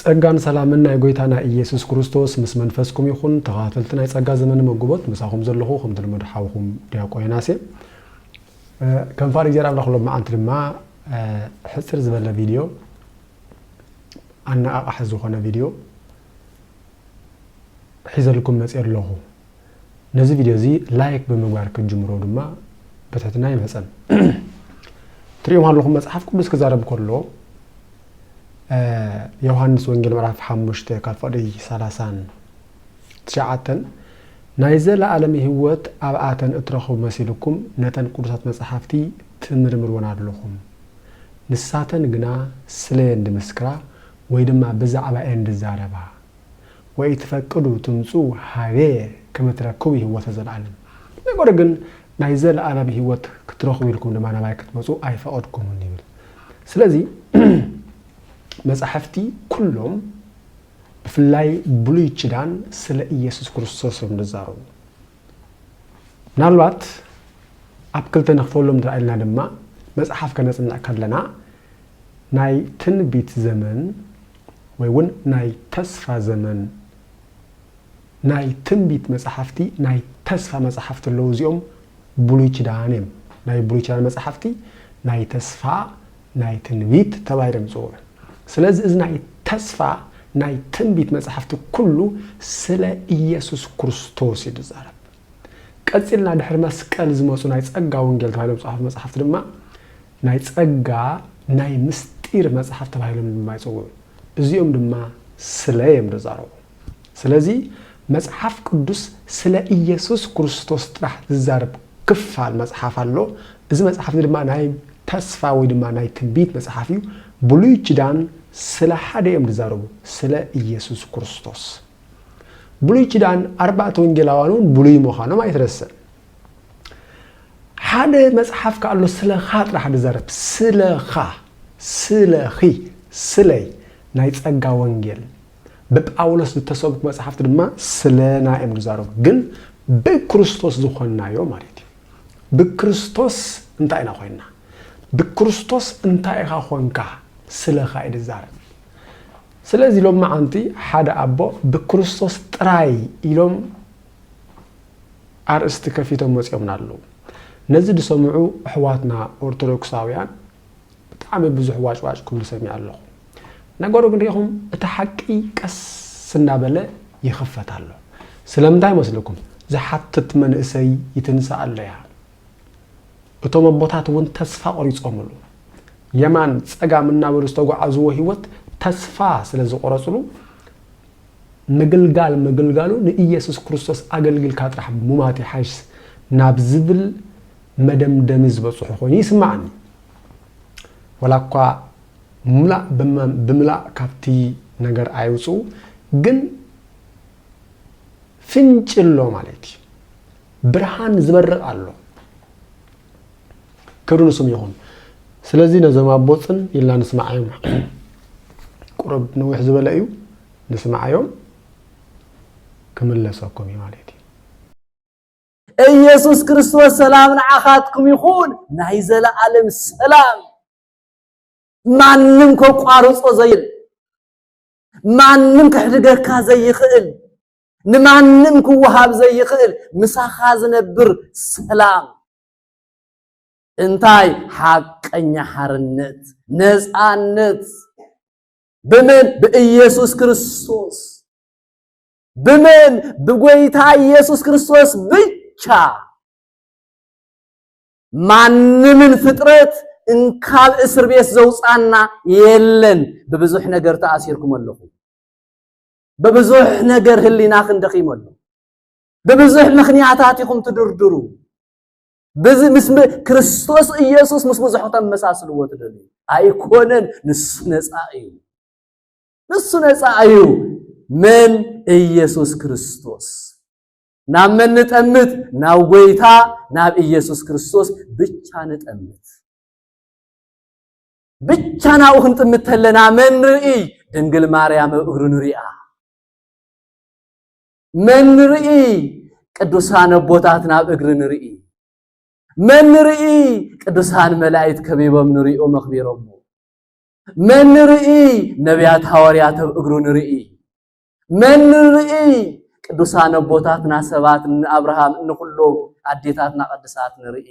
ጸጋን ሰላምን ናይ ጎይታና ኢየሱስ ክርስቶስ ምስ መንፈስኩም ይኹን ተኻታተልቲ ናይ ጸጋ ዘመነ መግቦት ምሳኹም ዘለኹ ከምቲ ልሙድ ሓውኹም ድያቆ ዮናስ እየ ከም ፋር እግዚኣብሔር ኣምላኽ ሎማዓንቲ ድማ ሕጽር ዝበለ ቪድዮ ኣነቓቓሒ ዝኾነ ቪድዮ ሒዘልኩም መጽየ ኣለኹ ነዚ ቪድዮ እዚ ላይክ ብምግባር ክትጅምሮ ድማ ብትሕትና ይምሕጸን። ትርእዩም ኣለኹም መጽሓፍ ቅዱስ ክዛረብ ከሎ ዮሃንስ ወንጌል ምዕራፍ ሓሙሽተ ካብ ፍቕዲ ሰላሳን ትሽዓተን ናይ ዘለኣለም ህይወት ኣብኣተን እትረኽቡ መሲልኩም ነተን ቅዱሳት መጽሓፍቲ ትምርምርወን ኣለኹም ንሳተን ግና ስለየን ድምስክራ ወይ ድማ ብዛዕባ እየን ድዛረባ ወኢትፈቅዱ ትምጽኡ ኀቤየ ከመ ትረክቡ ህይወተ ዘለዓለም፣ ነገር ግን ናይ ዘለዓለም ህይወት ክትረኽቡ ኢልኩም ድማ ናባይ ክትመጹ ኣይፈቐድኩምን ይብል። ስለዚ መጻሕፍቲ ኩሎም ብፍላይ ብሉይ ኪዳን ስለ ኢየሱስ ክርስቶስ እዮም ዝዛረቡ። ምናልባት ኣብ ክልተ ንኽፈሎም እንተ ኢልና ድማ መጽሓፍ ከነጽንዕ ከለና ናይ ትንቢት ዘመን ወይ እውን ናይ ተስፋ ዘመን ናይ ትንቢት መጽሓፍቲ ናይ ተስፋ መጽሓፍቲ ኣለዉ እዚኦም ብሉይ ኪዳን እዮም ናይ ብሉይ ኪዳን መጽሓፍቲ ናይ ተስፋ ናይ ትንቢት ተባሂሎም ይጽውዑ። ስለዚ እዚ ናይ ተስፋ ናይ ትንቢት መጻሕፍቲ ኩሉ ስለ ኢየሱስ ክርስቶስ እዩ ዝዛረብ። ቀጺልና ድሕሪ መስቀል ዝመጹ ናይ ጸጋ ወንጌል ተባሂሎም ዝጸሓፉ መጻሕፍቲ ድማ ናይ ጸጋ ናይ ምስጢር መጻሕፍቲ ተባሂሎም ድማ ይጽውዑ። እዚኦም ድማ ስለ እዮም ዝዛረቡ። ስለዚ መጽሓፍ ቅዱስ ስለ ኢየሱስ ክርስቶስ ጥራሕ ዝዛረብ ክፋል መጽሓፍ ኣሎ። እዚ መጽሓፍ እዚ ድማ ናይ ተስፋ ወይ ድማ ናይ ትንቢት መጽሓፍ እዩ። ብሉይ ኪዳን ስለ ሓደ እዮም ዝዛረቡ፣ ስለ ኢየሱስ ክርስቶስ። ብሉይ ኪዳን ኣርባዕተ ወንጌላውያን እውን ብሉይ ምዃኖም ኣይትረስዕ። ሓደ መጽሓፍ ከ ኣሎ ስለኻ ጥራሕ ዝዛረብ፣ ስለኻ፣ ስለኺ፣ ስለይ ናይ ጸጋ ወንጌል ብጳውሎስ ዝተሰብኩ መጽሓፍቲ ድማ ስለና እዮም ዝዛረቡ ግን ብክርስቶስ ዝኾንናዮ ማለት እዩ ብክርስቶስ እንታይ ኢና ኮይንና ብክርስቶስ እንታይ ኢኻ ኾንካ ስለኻ እዩ ዝዛረብ ስለዚ ሎም መዓንቲ ሓደ ኣቦ ብክርስቶስ ጥራይ ኢሎም ኣርእስቲ ከፊቶም መፅኦምና ኣለዉ ነዚ ዝሰምዑ ኣሕዋትና ኦርቶዶክሳውያን ብጣዕሚ ብዙሕ ዋጭዋጭ ክብሉ ሰሚዐ ኣለኹ። ነገሩ ግን ሪኢኹም እቲ ሓቂ ቀስ እናበለ ይኽፈት ኣሎ። ስለምንታይ መስለኩም? ዝሓትት መንእሰይ ይትንሳእ ኣሎያ። እቶም ኣቦታት እውን ተስፋ ቆሪጾምሉ። የማን ጸጋም እናበሉ ዝተጓዓዝዎ ህይወት ተስፋ ስለዝቆረጽሉ ምግልጋል ምግልጋሉ ንኢየሱስ ክርስቶስ ኣገልጊልካ ጥራሕ ሙማት ይሓይሽ ናብ ዝብል መደምደሚ ዝበጽሑ ኮይኑ ይስምዓኒ። ወላኳ ሙላእ ብምላእ ካብቲ ነገር ኣይውጽኡ ግን ፍንጭሎ ማለት እዩ ብርሃን ዝበርቅ ኣሎ። ክብሪ ንስም ይኹን ስለዚ ነዞም ኣቦ ጽን ኢልና ንስምዓዮም ቁሩብ ንዊሕ ዝበለ እዩ ንስምዓዮም ክምለሰኩም እዩ ማለት እዩ ኢየሱስ ክርስቶስ ሰላም ንዓኻትኩም ይኹን ናይ ዘለዓለም ሰላም ማንም ከቋርጾ ዘይል ማንም ክሕድገካ ዘይኽእል ንማንም ክወሃብ ዘይኽእል ምሳኻ ዝነብር ሰላም እንታይ ሓቀኛ ሓርነት ነፃነት ብምን ብኢየሱስ ክርስቶስ ብምን ብጎይታ ኢየሱስ ክርስቶስ ብቻ ማንምን ፍጥረት እንካብ እስር ቤት ዘውፃና የለን ብብዙሕ ነገር ተኣሲርኩም ኣለኹ ብብዙሕ ነገር ህሊናኽን ደኺሙ ኣሎ ብብዙሕ ምኽንያታት ኢኹም ትድርድሩ። ምስ ክርስቶስ ኢየሱስ ምስ ብዙሕ ተመሳስልዎ ትደልዩ ኣይኮነን። ንሱ ነፃ እዩ፣ ንሱ ነፃ እዩ። መን ኢየሱስ ክርስቶስ ናብ መን ንጠምት? ናብ ጎይታ ናብ ኢየሱስ ክርስቶስ ብቻ ንጠምት። ብቻ ናብኡ ክንጥምት ተለና መን ንርኢ? ድንግል ማርያም እግሩ ንሪኣ። መን ንርኢ ቅዱሳን ኣቦታት ናብ እግሪ ንርኢ መን ንርኢ ቅዱሳን መላእክት ከቢቦም ንሪኡ መኽቢሮሞ መን ንርኢ ነቢያት ሃዋርያት ኣብ እግሩ ንርኢ መን ንርኢ ቅዱሳን ኣቦታትና ሰባት ንኣብርሃም ንኹሎም ኣዴታትና ቅዱሳት ንርኢ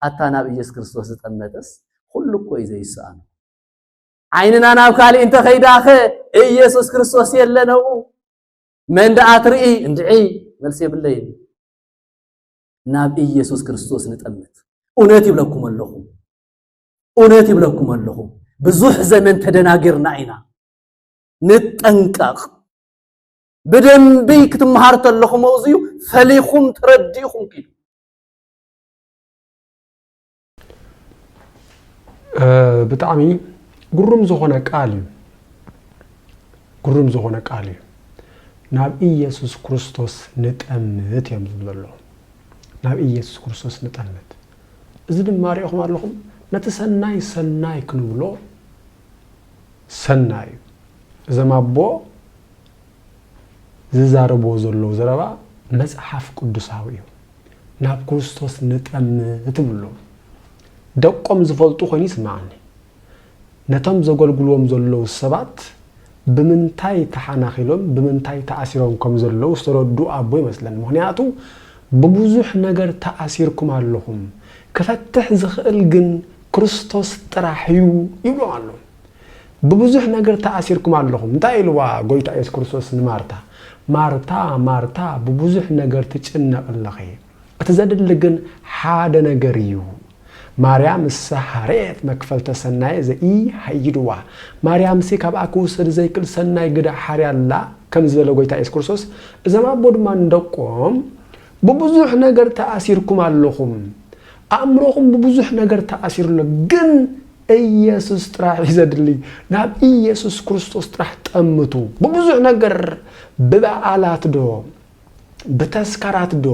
ኣታ ናብ ኢየሱስ ክርስቶስ ዝጠመተስ ኩሉ እኮ እዩ ዘይስኣኑ ዓይንና ናብ ካልእ እንተኸይዳኸ ኢየሱስ ክርስቶስ የለነኡ መን ደኣ ትርኢ? እንድዒ መልሲ የብለይን። ናብ ኢየሱስ ክርስቶስ ንጠምት። እውነት ይብለኩም ኣለኹ፣ እውነት ይብለኩም ኣለኹ፣ ብዙሕ ዘመን ተደናጊርና ኢና። ንጠንቀቕ። ብደንቢ ክትመሃር ተለኹም ኣውዝዩ ፈሊኹም ተረዲእኹም ኪዱ። ብጣዕሚ ግሩም ዝኾነ ቃል እዩ ግሩም ዝኾነ ቃል እዩ ናብ ኢየሱስ ክርስቶስ ንጠምት እዮም ዝብ ዘሎ ናብ ኢየሱስ ክርስቶስ ንጠምት እዚ ድማ ሪእኹም ኣለኹም ነቲ ሰናይ ሰናይ ክንብሎ ሰናይ እዩ እዞም ኣቦ ዝዛረብዎ ዘለዉ ዘረባ መጽሓፍ ቅዱሳዊ እዩ። ናብ ክርስቶስ ንጠም ትብሎ ደቆም ዝፈልጡ ኮይኑ ይስምዓኒ። ነቶም ዘገልግልዎም ዘለዉ ሰባት ብምንታይ ተሓናኺሎም ብምንታይ ተኣሲሮም ከም ዘለዉ ዝተረድኡ ኣቦ ይመስለኒ። ምኽንያቱ ብብዙሕ ነገር ተኣሲርኩም ኣለኹም ክፈትሕ ዝኽእል ግን ክርስቶስ ጥራሕ እዩ ይብሎም ኣሎ። ብብዙሕ ነገር ተኣሲርኩም ኣለኹም። እንታይ ኢልዋ ጎይታ ኢየሱስ ክርስቶስ ንማርታ? ማርታ ማርታ ብብዙሕ ነገር ትጭነቂ ኣለኺ፣ እቲ ዘድሊ ግን ሓደ ነገር እዩ። ማርያም እሰ ሀርኤት መክፈልተ ሰናየ ዘኢሀይድዋ፣ ማርያምሲ ካብኣ ክውሰድ ዘይክል ሰናይ ግደ ሓርያ ኣላ ከም ዝበለ ጎይታ ኢየሱስ ክርስቶስ፣ እዞም ኣቦ ድማ ንደቆም ብብዙሕ ነገር ተኣሲርኩም ኣለኹም፣ ኣእምሮኹም ብብዙሕ ነገር ተኣሲሩ ኣሎ፣ ግን እየሱስ ጥራሕ እዩ ዘድሊ ናብ እየሱስ ክርስቶስ ጥራሕ ጠምቱ ብብዙሕ ነገር ብበዓላት ዶ ብተስካራት ዶ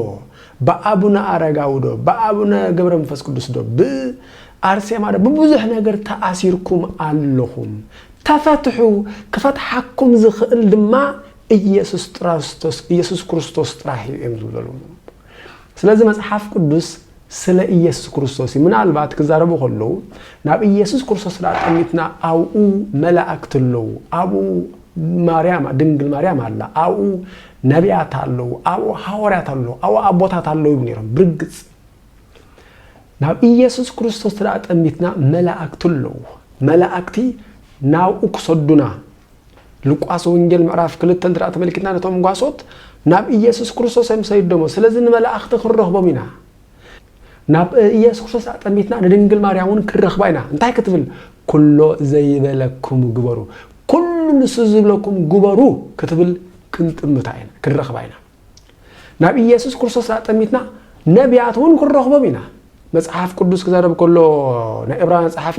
ብኣቡነ ኣረጋዊ ዶ ብኣቡነ ገብረ መንፈስ ቅዱስ ዶ ብኣርሴማ ዶ ብብዙሕ ነገር ተኣሲርኩም ኣለኹም ተፈትሑ ክፈትሓኩም ዝኽእል ድማ እየሱስ ጥራስቶስ እየሱስ ክርስቶስ ጥራሕ እዩ እዮም ዝብለሉ ስለዚ መጽሓፍ ቅዱስ ስለ ኢየሱስ ክርስቶስ እዩ። ምናልባት ክዛረቡ ከለዉ ናብ ኢየሱስ ክርስቶስ ደኣ ጠሚትና ኣብኡ መላእክት ኣለዉ፣ ኣብኡ ማርያም ድንግል ማርያም ኣላ፣ ኣብኡ ነቢያት ኣለዉ፣ ኣብኡ ሃዋርያት ኣለዉ፣ ኣብኡ ኣቦታት ኣለዉ ይብሉ ነይሮም። ብርግጽ ናብ ኢየሱስ ክርስቶስ ደኣ ጠሚትና መላእክት ኣለዉ። መላእክቲ ናብኡ ክሰዱና ሉቃስ ወንጌል ምዕራፍ ክልተ እንተ ተመልኪትና ነቶም ጓሶት ናብ ኢየሱስ ክርስቶስ እዮም ሰይዶሞ ስለዚ ንመላእኽቲ ክንረኽቦም ኢና ናብ ኢየሱስ ክርስቶስ ኣጠሚትና ንድንግል ማርያም እውን ክንረኽባ ኢና እንታይ ክትብል ኩሎ ዘይበለኩም ግበሩ ኩሉ ንሱ ዝብለኩም ግበሩ ክትብል ክንጥምታ ኢና ክንረኽባ ኢና ናብ ኢየሱስ ክርስቶስ ኣጠሚትና ነቢያት እውን ክንረኽቦም ኢና መጽሓፍ ቅዱስ ክዛረብ ከሎ ናይ እብራውያን ጸሓፊ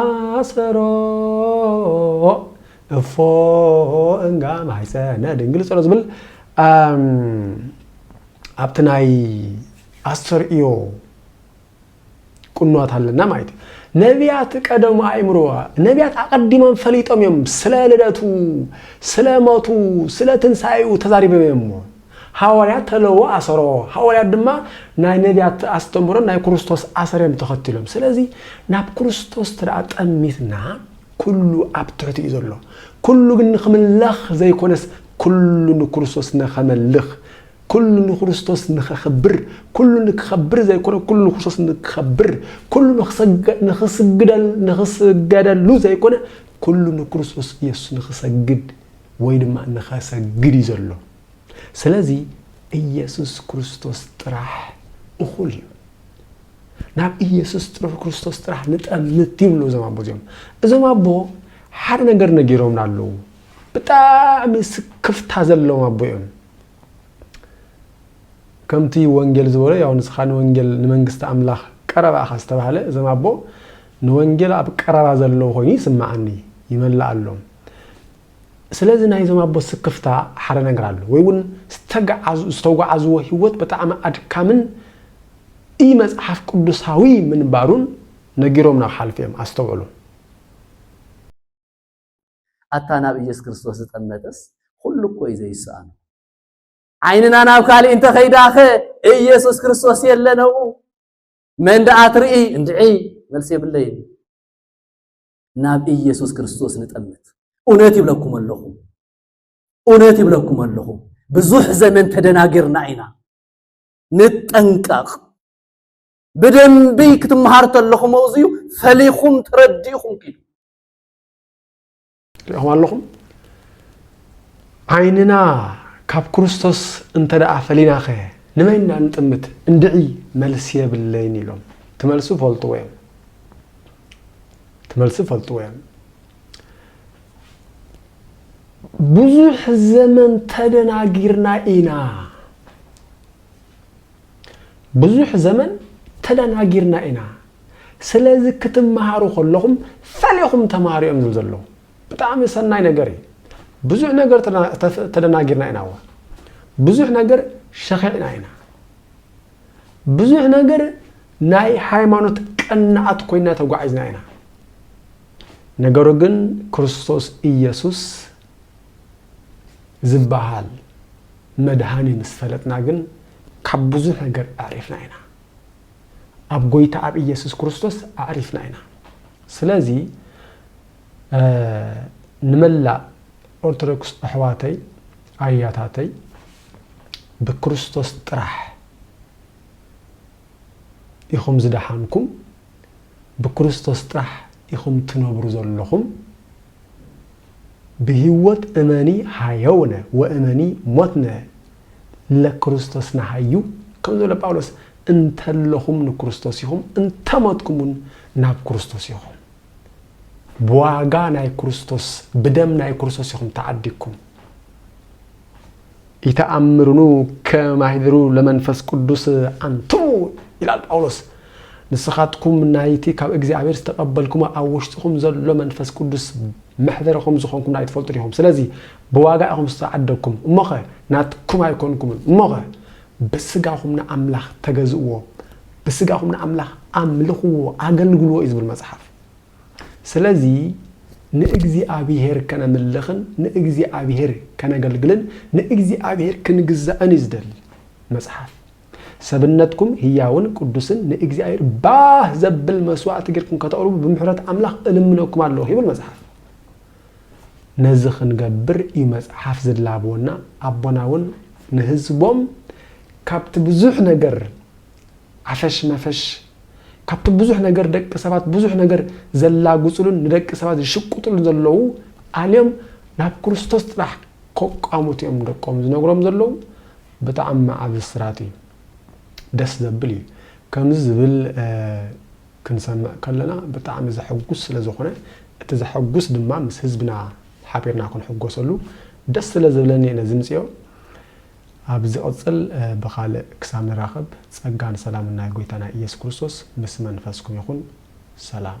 ኣሰሮ እፎ እንጋ ማሕፀነ ድንግል ፀሎ ዝብል ኣብቲ ናይ ኣስተርእዮ ቁኖት ኣለና ማለት እዩ ነቢያት ቀደሙ ኣእምሮ ነቢያት ኣቐዲሞም ፈሊጦም እዮም ስለ ልደቱ ስለ ሞቱ ስለ ትንሳኤኡ ተዛሪቦም እዮም እሞ ሃዋርያት ተለዎ ኣሰረዎ ሃዋርያት ድማ ናይ ነብያት ኣስተምሮን ናይ ክርስቶስ ኣሰረዮም ተኸትሎም ስለዚ ናብ ክርስቶስ ትደኣ ጠሚትና ኩሉ ኣብ ትሕቲ እዩ ዘሎ ኩሉ ግን ንክምለኽ ዘይኮነስ ኩሉ ንክርስቶስ ንኸመልኽ ኩሉ ንክርስቶስ ንኸኽብር ኩሉ ንክኸብር ዘይኮነ ኩሉ ንክርስቶስ ንክኸብር ኩሉ ንክስገደሉ ዘይኮነ ኩሉ ንክርስቶስ ኢየሱስ ንክሰግድ ወይ ድማ ንኸሰግድ እዩ ዘሎ። ስለዚ ኢየሱስ ክርስቶስ ጥራሕ እኹል እዩ። ናብ ኢየሱስ ጥሩሕ ክርስቶስ ጥራሕ ንጠምት ይብሉ እዞም ኣቦ እዚኦም። እዞም ኣቦ ሓደ ነገር ነጊሮምና ኣለዉ። ብጣዕሚ ስክፍታ ዘለዎም ኣቦ እዮም። ከምቲ ወንጌል ዝበሎ ያው ንስኻ ንወንጌል ንመንግስቲ ኣምላኽ ቀረባ ኢኻ ዝተባህለ እዞም ኣቦ ንወንጌል ኣብ ቀረባ ዘለዉ ኮይኑ ይስምዓኒ ይመልኣሎም። ስለዚ ናይዞም ኣቦ ስክፍታ ሓደ ነገር ኣሎ ወይ ውን ዝተጓዓዝዎ ህይወት ብጣዕሚ ኣድካምን ኢመጽሓፍ ቅዱሳዊ ምንባሩን ነጊሮም ናብ ሓልፍ እዮም ኣስተውዕሉ። ኣታ ናብ ኢየሱስ ክርስቶስ ዝጠመተስ ኹሉ እኮ እዩ ዘይሰኣኖ። ዓይንና ናብ ካልእ እንተኸይዳኸ ኢየሱስ ክርስቶስ የለን ኣብኡ መን ደኣ ትርኢ እንድዒ መልሲ የብለይን። ናብ ኢየሱስ ክርስቶስ ንጠምት። እውነት ይብለኩም ኣለኹ እውነት ይብለኩም ኣለኹ ብዙሕ ዘመን ተደናጊርና ኢና። ንጠንቀቕ። ብደንቢ ክትመሃር ተለኹም ኣውዝዩ ፈሊኹም ተረዲእኹም ኪዱ ሪኹም ኣለኹም ዓይንና ካብ ክርስቶስ እንተ ደኣ ፈሊና ኸ ንመን ኢና ንጥምት እንድዒ መልሲ የብለይን ኢሎም ትመልሱ ፈልጥዎ እዮም እቲ መልሲ ይፈልጥዎ እዮም። ብዙሕ ዘመን ተደናጊርና ኢና ብዙሕ ዘመን ተደናጊርና ኢና ስለዚ ክትመሃሩ ከለኹም ፈሊኹም ተማሃሩ እዮም ዝብል ዘለዉ ብጣዕሚ ሰናይ ነገር እዩ ብዙሕ ነገር ተደናጊርና ኢና ዋ ብዙሕ ነገር ሸኺዕና ኢና ብዙሕ ነገር ናይ ሃይማኖት ቀናኣት ኮይና ተጓዒዝና ኢና። ነገሩ ግን ክርስቶስ ኢየሱስ ዝበሃል መድሃኒ ምስ ፈለጥና ግን ካብ ብዙሕ ነገር ኣዕሪፍና ኢና። ኣብ ጎይታ ኣብ ኢየሱስ ክርስቶስ ኣዕሪፍና ኢና። ስለዚ ንመላእ ኦርቶዶክስ ኣሕዋተይ ኣያታተይ ብክርስቶስ ጥራሕ ኢኹም ዝደሓንኩም ብክርስቶስ ጥራሕ ኢኹም ትነብሩ ዘለኹም ብሂወት እመኒ ሃየውነ ወእመኒ ሞትነ ለክርስቶስ ንሃዩ ከም ዝበለ ጳውሎስ እንተለኹም ንክርስቶስ ኢኹም እንተሞትኩምውን ናብ ክርስቶስ ኢኹም ብዋጋ ናይ ክርስቶስ ብደም ናይ ክርስቶስ ኢኹም ተዓዲግኩም ይተኣምርኑ ከማሂሩ ለመንፈስ ቅዱስ ኣንትሙ ይላል ጳውሎስ ንስኻትኩም ናይቲ ካብ እግዚኣብሔር ዝተቐበልኩሞ ኣብ ውሽጥኹም ዘሎ መንፈስ ቅዱስ መሕደረ ከም ዝኾንኩም ናይ ትፈልጡ ዲኹም ስለዚ ብዋጋ ኢኹም ዝተዓደግኩም እሞኸ ናትኩም ኣይኮንኩምን እሞኸ ብስጋኹም ንኣምላኽ ተገዝእዎ፣ ብስጋኹም ንኣምላኽ ኣምልኽዎ፣ ኣገልግልዎ እዩ ዝብል መጽሓፍ። ስለዚ ንእግዚኣብሄር ከነምልኽን ንእግዚኣብሄር ከነገልግልን ንእግዚኣብሄር ክንግዛእን እዩ ዝደሊ መጽሓፍ። ሰብነትኩም ህያውን ቅዱስን ንእግዚኣብሄር ባህ ዘብል መስዋእቲ ጌርኩም ከተቕርቡ ብምሕረት ኣምላኽ እልምነኩም ኣለኹ ይብል መጽሓፍ። ነዚ ክንገብር እዩ መጽሓፍ ዝላበወና ኣቦና ውን ንህዝቦም ካብቲ ብዙሕ ነገር ዓፈሽ መፈሽ ካብቲ ብዙሕ ነገር ደቂ ሰባት ብዙሕ ነገር ዘላግጽሉን ንደቂ ሰባት ዝሽቁጥሉን ዘለዉ ኣልዮም ናብ ክርስቶስ ጥራሕ ከቋሙት እዮም ደቆም ዝነግሮም ዘለዉ ብጣዕሚ ዓቢ ስራት እዩ ደስ ዘብል እዩ ከምዚ ዝብል ክንሰምዕ ከለና ብጣዕሚ ዘሕጉስ ስለ ዝኾነ እቲ ዘሐጉስ ድማ ምስ ህዝብና ሓቢርና ክንሕጎሰሉ ደስ ስለ ዝብለኒ እየ ነዚ ምጽዮ ኣብ ዝቕጽል ብኻልእ ክሳብ ንራኸብ ጸጋን ሰላምን ናይ ጎይታና ኢየሱስ ክርስቶስ ምስ መንፈስኩም ይኹን ሰላም።